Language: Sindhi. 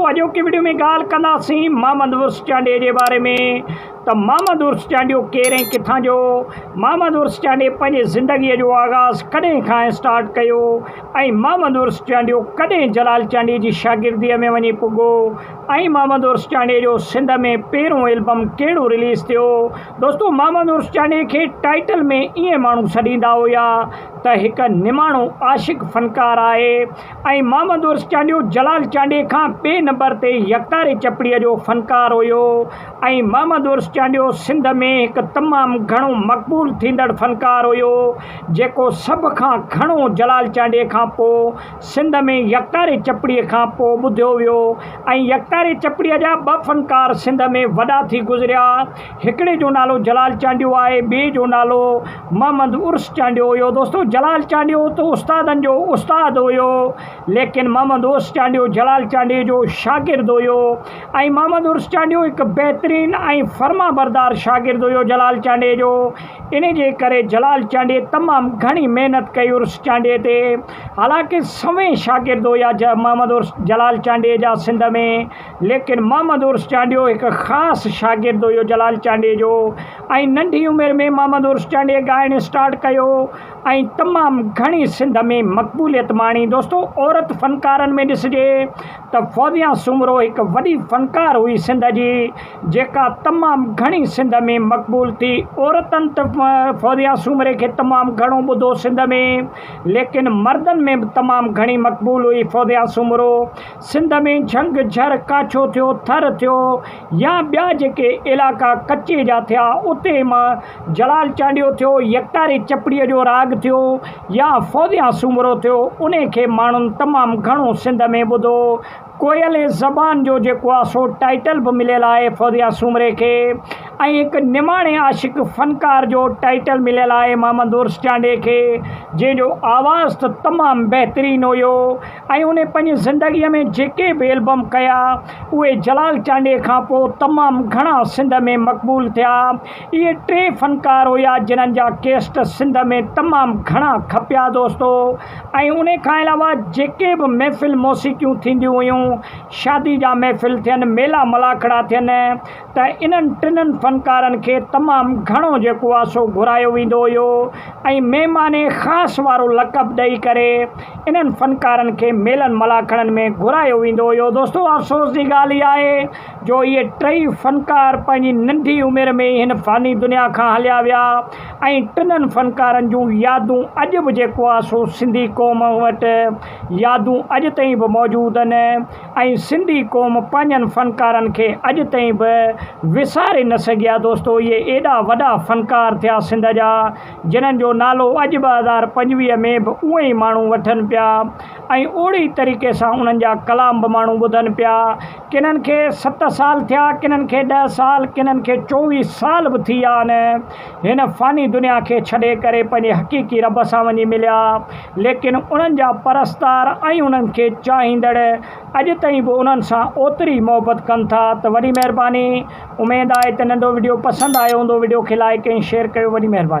اڄوڪي وڊيو ۾ ڳالهه ڪنداسين محمد عرس چانڊيي جي باري ۾ ته محمد عرس چانڊيو ڪير ۽ ڪٿان جو هو، محمد عرس چانڊيي پنهنجي زندگي جو آغاز ڪڏهن کان اسٽارٽ ڪيو ۽ محمد عرس چانڊيو ڪڏهن جلال چانڊيي جي شاگرديء ۾ وڃي پڳو ۽ محمد عرس چانڊيي جو سنڌ ۾ پهريون البم ڪهڙو رليز ٿيو دوستو محمد عرس چانڊيي کي ٽائيٽل ۾ ائين ماڻهو سڏيندا هيا ته هڪ نماڻو عاشق فنڪار آهي ۽ محمد عرس چانڊيو جلال چانڊي کان ٻئي نمبر تي يڪتاري چپڙي جو فنڪار هيو ۽ محمد عرس چانڊيو سنڌ ۾ هڪ تمام گهڻو مقبول ٿيندڙ فنڪار هيو جيڪو سڀ کان گهڻو جلال چانڊي کان پوء سنڌ ۾ يڪتاري چپڙي کان پوء ٻڌيو ويو ۽ يڪتاري چپڙي جا ٻه فنڪار سنڌ ۾ وڏا ٿي گذريا هڪڙي جو نالو جلال چانڊيو آهي ٻئي جو نالو محمد عرس چانڊيو هيو دوستو جلال چانڊيو ته استادن جو استاد هيو ليڪن محمد عرس چانڊيو جلال چانڊيي جو شاگرد هيو ۽ محمد عرس چانڊيو هڪ بهترين ۽ فرمان بردار شاگرد هيو جلال چانڊيي جو انهي جي ڪري جلال چانڊيي تمام گهڻي محنت ڪئي عرس چانڊيي تي حالانڪه سوين شاگرد هيا محمد عرس جلال چانڊيي جا سنڌ ۾ ليڪن محمد عرس چانڊيو هڪ خاص شاگرد هيو جلال چانڊيي جو ۽ ننڍي عمر ۾ محمد عرس چانڊيي ڳائڻ اسٽارٽ ڪيو ۽ تمام گهڻي سنڌ ۾ مقبوليت ماڻي دوستو عورت فنڪارن ۾ ڏسجي ته فوزيا سومرو هڪ وڏي فنڪار هئي سنڌ جي جيڪا تمام گهڻي سنڌ ۾ مقبول ٿي عورتن ته فوزيا سومري کي تمام گهڻو ٻڌو سنڌ ۾ ليڪن مردن ۾ به تمام گهڻي مقبول هئي فوزيا سومرو سنڌ ۾ جهنگ، جهر، ڪاڇو ٿيو، ٿر ٿيو يا ٻيا جيڪي علائقا ڪچي جا ٿيا اتي مان جلال چانڊيو ٿيو، يڪتاري چپڙيء جو راڳ ٿيو يا فوزيان سومرو ٿيو انهي کي ماڻهن تمام گهڻو سنڌ ۾ ٻڌو. ڪوئلي زبان جو جيڪو آ سو ٽائيٽل به مليل آهي فوزيان سومري کي ۽ هڪ نماڻي عاشق فنڪار جو ٽائيٽل مليل آهي محمد عرس چانڊي کي جنهن جو آواز ته تمام بهترين هيو. ۽ هن پنهنجي زندگيء ۾ جيڪي به البم ڪيا، اهي جلال چانڊيي کان پوء تمام گهڻا سنڌ ۾ مقبول ٿيا. اهي ٽي فنڪار هيا، جنهن جا ڪيسٽ سنڌ ۾ تمام گهڻا کپيا دوستو ۽ ان کان علاوه جيڪي به محفل موسيقيون ٿينديون هيون، شادي جا محفل ٿين، ميلا ملاکڙا ٿين، ته انهن ٽنهن فنڪارن کي تمام گهڻو جيڪو آهي سو گهرايو ويندو هيو ۽ مهمان خاص وارو لقب ڏئي ڪري انهن فنڪارن کي ميلن ملاکڙن ۾ گهرايو ويندو هيو دوستو افسوس جي ڳالهه اها آهي جو اهي ٽئي فنڪار پنهنجي ننڍي عمر ۾ ئي هن فاني دنيا کان هليا ويا ۽ ٽنهن فنڪارن جون يادون اڄ به جيڪو آهي سو سنڌي قوم وٽ يادون اڄ تائين به موجود آهن ۽ سنڌي قوم پنهنجن فنڪارن کي اڄ تائين به وساري نه سگهي آهي دوستو اهي ايڏا وڏا فنڪار ٿيا سنڌ جا جنهن جو نالو اڄ ٻه هزار پنجويهه ۾ به اونئن ئي ماڻهو وٺن پيا ۽ اوڙي ئي طريقي سان انهن جا ڪلام به ماڻهو ٻڌن پيا ڪنهن کي ست سال ٿيا ڪنهن کي ڏهه سال ڪنهن کي چوويهه سال به ٿي ويا آهن هن فاني دنيا کي ڇڏي ڪري پنهنجي حقيقي رب سان وڃي مليا، ليڪن انهن جا پرستار ۽ انهن کي چاهيندڙ اڄ تائين به انهن سان اوتري ئي محبت ڪن ٿا ته وڏي مهرباني اميد آهي ته ننڍو وڊيو پسند آيو هوندو وڊيو کي لائيڪ ۽ شيئر ڪيو وڏي مهرباني.